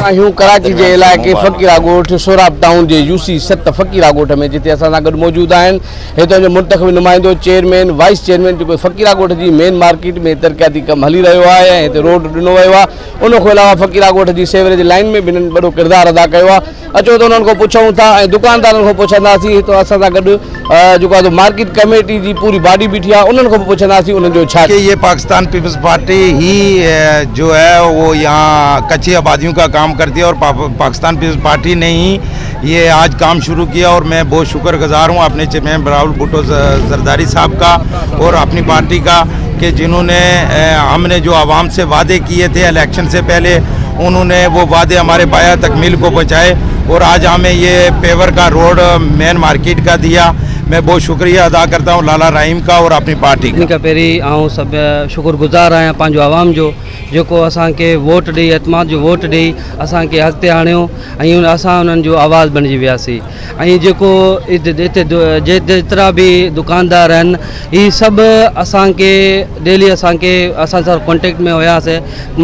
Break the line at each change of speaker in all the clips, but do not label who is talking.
آهيون ڪراچي جي علائقي فقيرا ڳوٺ سوراب ٽائون جي يو سي ست فقيرا ڳوٺ ۾ جتي اسان سان گڏ موجود آهن هتان جو منتخب نمائندو چيئرمين وائيس چيئرمين جيڪو فقيرا ڳوٺ جي مين مارڪيٽ ۾ ترقياتي ڪم هلي رهيو آهي ۽ هتي روڊ ڏنو ويو آهي ان کان علاوه فقيرا ڳوٺ جي سيوريج لائين ۾ به هنن وڏو ڪردار ادا ڪيو آهي اچو ته انهن کان پڇون ٿا ۽ دڪاندارن کان پڇنداسين هت اسان سان گڏ جيڪو آهي مارڪيٽ ڪميٽي جي پوري باڊي بيٺي آهي انهن کان به پڇنداسين انهن جو ڇا ڪي پاڪستان پيپلز
پارٽي هي جو هي اهو يا ڪچي آباديون ڪا ڪام ڪرتي اور پاڪستان پيپلز پارٽي ني هي هي آج ڪام شروع ڪيا اور مين بهت شڪر گزار هون اپني چه مين براول بوٽو زرداري صاحب ڪا اور اپني پارٽي ڪا ڪه جنهون ني هم ني جو عوام سي وعدي ڪيه ٿي اليڪشن سي پهلي انهون ني وو وعدي هماري بايا تڪميل ڪو پهچائي اور آج همي يه پيور ڪا روڊ مين مارڪيٽ ڪا ديا مين بهت شڪريه ادا ڪرتا هون لالا راهيم ڪا اور اپني پارٽي ڪا. سڀني کان پهرين آئون سڀ
شڪر گذار آهيان پنهنجو عوام جو جيڪو اسان کي ووٽ ڏئي اعتماد جو ووٽ ڏئي اسان کي اڳتي آڻيو ۽ اسان انهن جو آواز بڻجي وياسين ۽ جيڪو هتي جيترا به دڪاندار آهن هي سڀ اسان کي ڊيلي اسان کي اسان سان ڪانٽيڪٽ ۾ هيا سي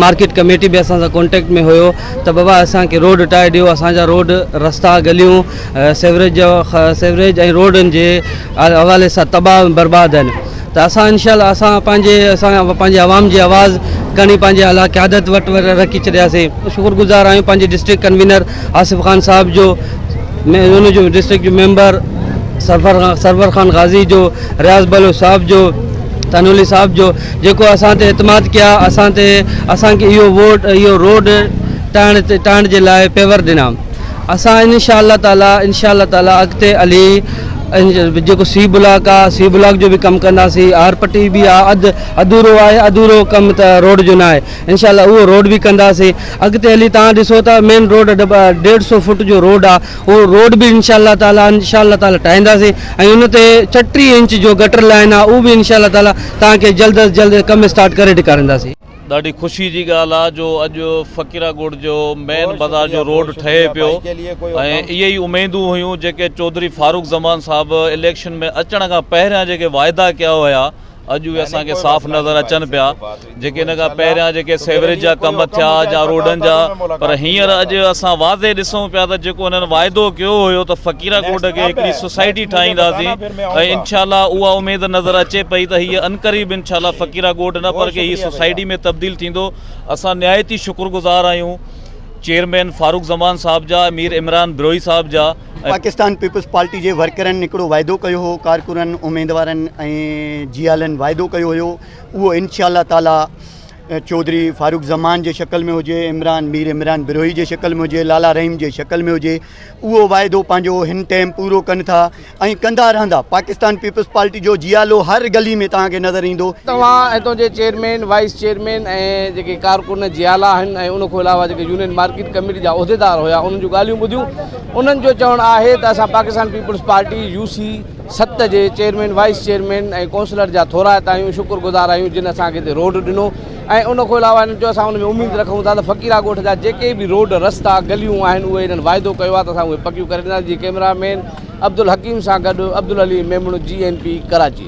مارڪيٽ ڪميٽي به اسان سان ڪانٽيڪٽ ۾ هيو ته بابا اسان کي روڊ ٽائي ڏيو اسان جا روڊ رستا گليون سيوريج جو سيوريج ۽ روڊن جي حوالي سان تباهه برباد آهن ته اسان انشاء الله اسان پنهنجي اسان پنهنجي عوام جي آواز کڻي پنهنجي اعليٰ قيادت وٽ رکي ڇڏياسين شڪر گذار آهيون پنهنجي ڊسٽرڪٽ ڪنوينر آصف خان صاحب جو ان جو ڊسٽرڪٽ جو ميمبر سرور سرور خان غازي جو رياض بلو صاحب جو تنولي صاحب جو جيڪو اسان تي اعتماد ڪيا اسان تي اسان کي اهو ووٽ اهو روڊ ٽائڻ ٽائڻ جي لاء پيور ڏنا اسان ان شاء الله تعالي ان شاء الله تعالي اڳتي علي جيڪو سي بلاڪ آ سي بلاڪ جو به ڪم ڪنداسي آر پٽي به آ اڌ اڌورو آهي اڌورو ڪم ته روڊ جو ناهي ان شاء الله اهو روڊ به ڪنداسي اڳتي علي تان ڏسو ته مين روڊ ڏيڍ سو فوٽ جو روڊ آ اهو روڊ به ان شاء الله تعالي ان شاء الله تعالي ٺاهينداسي ۽ ان تي چٽي انچ جو گٽر لائن آ اهو به ان شاء الله تعالي تان کي جلد از جلد ڪم اسٽارٽ ڪري ڏيکارينداسي. ڏاڍي خوشي
جي ڳالهه آ جو اڄ فقيره ڳوٺ جو مين بازار جو روڊ ٺهي پيو ۽ اهي ئي اميدون هيون جيڪي چوڌري فاروق زمان صاحب اليڪشن ۾ اچڻ کان پهريان جيڪي واعدا ڪيا هيا اڄ اهي اسان کي صاف نظر اچن پيا جيڪي ان کان پهريان جيڪي سيوريج جا ڪم ٿيا يا روڊن جا پر هينئر اڄ اسان واضح ڏسون پيا ته جيڪو انهن واعدو ڪيو هيو ته فقيره ڳوٺ کي هڪڙي سوسائٽي ٺاهينداسين ۽ انشاء الله اها اميد نظر اچي پئي ته هيء عنقريب انشاء الله فقيره ڳوٺ نه پر ڪي هيء سوسائٽي ۾ تبديل ٿيندو اسان نهايت ئي شڪر گذار آهيون چيئرمين فاروق زمان صاحب جا مير عمران بروهي صاحب جا پاڪستان پيپلز
پارٽي جي ورڪرن هڪڙو واعدو ڪيو هو ڪارڪنن اميدوارن ۽ جيالن واعدو ڪيو هيو اهو انشاء الله تعالي چوڌري فاروق زمان جي شڪل ۾ هجي عمران مير عمران بروهي جي شڪل ۾ هجي لالا رحيم جي شڪل ۾ هجي اهو واعدو پنهنجو هن ٽيم پورو ڪن ٿا ۽ ڪندا رهندا پاڪستان پيپلز پارٽي جو جيالو هر گلي ۾ توهان کي نظر ايندو. توهان اتو جي
چيئرمين وائيس چيئرمين ۽ جيڪي ڪارڪن جيالا آهن ۽ ان کان علاوه جيڪي يونين مارڪيٽ ڪميٽي جا عهديدار هيا انهن جون ڳالهيون ٻڌيون انهن جو چوڻ آهي ته اسان پاڪستان پيپلز پارٽي يو سي ست جي چيئرمين وائيس چيئرمين ۽ ڪونسلر جا ٿورائتا آهيون شڪر گذار آهيون جن اسان کي هتي روڊ ڏنو ۽ ان کان علاوه هنن چيو اسان ان ۾ اميد رکون ٿا ته فقيرا ڳوٺ جا جيڪي به روڊ رستا گليون آهن اهي هنن وعدو ڪيو آهي ته اسان اهي پڪيون ڪري ڏينداسين جيئن ڪئميرا مين عبدالحڪيم سان گڏ Abdul Ali Memon G N P Karachi.